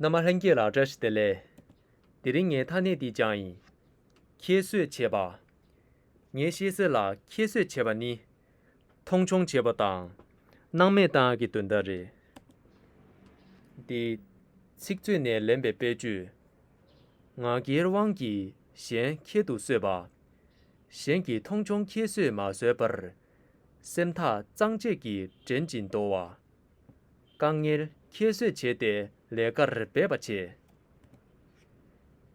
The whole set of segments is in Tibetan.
ན་མ་ལྷན་སྐྱེས་ལ་བཀྲ་ཤིས་བདེ་ལེགས། དེ་རིང་ངའི་མཐའ་སྣེ་འདི་བྱང་ཡིན། ཁྱད་གསོད་བྱེད་པ། ངས་ཤེས་གསལ་ལ་ཁྱད་གསོད་བྱེད་པ་ནི། མཐོང་ཆུང་བྱེད་པ་དང། སྣང་མེད་བཏང་གི་དོན་དག་རེད། འདི། ཚིག་མཛོད་ནས་ལེན་པའི་དཔེ་བརྗོད། ང་རྒྱལ་དབང་གིས་གཞན་ཁྱད་དུ་གསོད་པ། གཞན་གྱིས་མཐོང་ཆུང་ཁྱད་གསོད་མ་བཟོད་པར། སེམས་ཐག་གཙང་བཅད་ཀྱིས་འདྲེན་ཅིང་འདོར་བ། དཀའ་ངལ་ཁྱད་གསོད་བྱས་ཏེ་ལས་ཀར་འབད་པ་བྱས།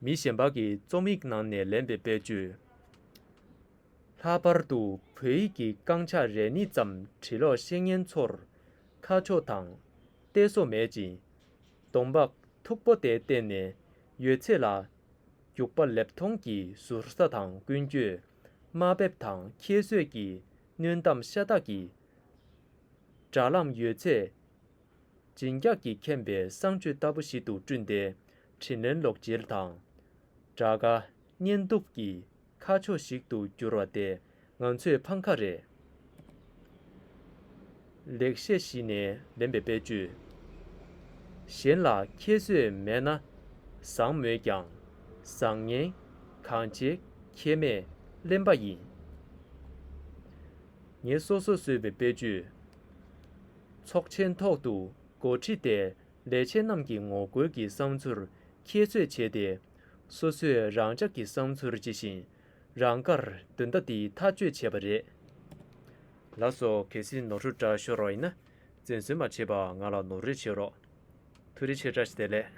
མི་གཞན་པ་གི་རྩོམ་ཡིག་ནང་ནས་ལེན་པའི་དཔེར་བརྗོད། ལྷག་པར་དུ་བོད་ཡིག་གི་རྐང་ཆག་རེ་གཉིས་ཙམ་བྲིས་ལོག་བཤེས་གཉེན་ཚོར་ཁ་ཕྱོགས་དང་གཏད་སོ་མེད་ཅིང། གདོང་འབག་མཐུག་པོ་དེ་བསྟན་ནས་ཡོད་ཚད་ལ་རྒྱུག་པ་ལེབ་མཐོང་གི་ཟུར་ཟ་དང་ཀུན་སྤྱོད་དམའ་འབེབས་དང་ཁྱད་གསོད་ཀྱི་གནོན་གཏམ་ཤ་སྟག་གིས་དྲ་ལམ་ཡོད་ཚད་བརྗིད་འགྱག་གིས་ཁེངས་པའི་གསང་སྤྱོད་ལྟ་བུ་ཞིག་ཏུ་བསྐྲུན་ཏེ། དྲིན་ལན་ལོག་འཇལ་དང། དགྲ་དགའ་གཉེན་སྡུག་གི་ཁ་ཕྱོགས་ཤིག་ཏུ་གྱུར་བ་དེ་ང་ཚོས་ཕམ་ཁ་རེད། ལེགས་བཤད་གཞི་ནས་ལེན་པའི་དཔེ་བརྗོད་གཞན་ལ་ཁྱད་གསོད་མེད་ན་བཟང་མོད་ཀྱང་བཟང་ངན་གང་བྱེད་ཁྱེད་མས་གླེན་པ་ཡིན། ངེད་སོ་སོས་བཟོས་པའི་དཔེ་བརྗོད། ཚོགས་ཆེན་ཐོག་ཏུ་འགོ་ཁྲིད་དེ་ལས་བྱེད་རྣམས་ཀྱི་ངོ་རྒོལ་གྱི་བསམ་ཚུལ་ཁྱད་གསོད་བྱས་ཏེ། སོ་སོས་རང་ཅག་གི་བསམ་ཚུལ་ཇི་བཞིན་རང་དགར་འདོན་རྟ་འདི་ཐག་གཅོད་བྱས་པ་རེད། ལ་སོ་གལ་སྲིད་ནོར་འཁྲུལ་འདྲ་ཤོར་བ་ཡིན་ན་བཙན་གསོལ་མ་བྱེད་པར་ང་ལ་ནོར་རེ་བྱེད་རོགས། ཐུགས་རེ་ཆེ་བཀྲ་ཤིས་བདེ་ལེགས།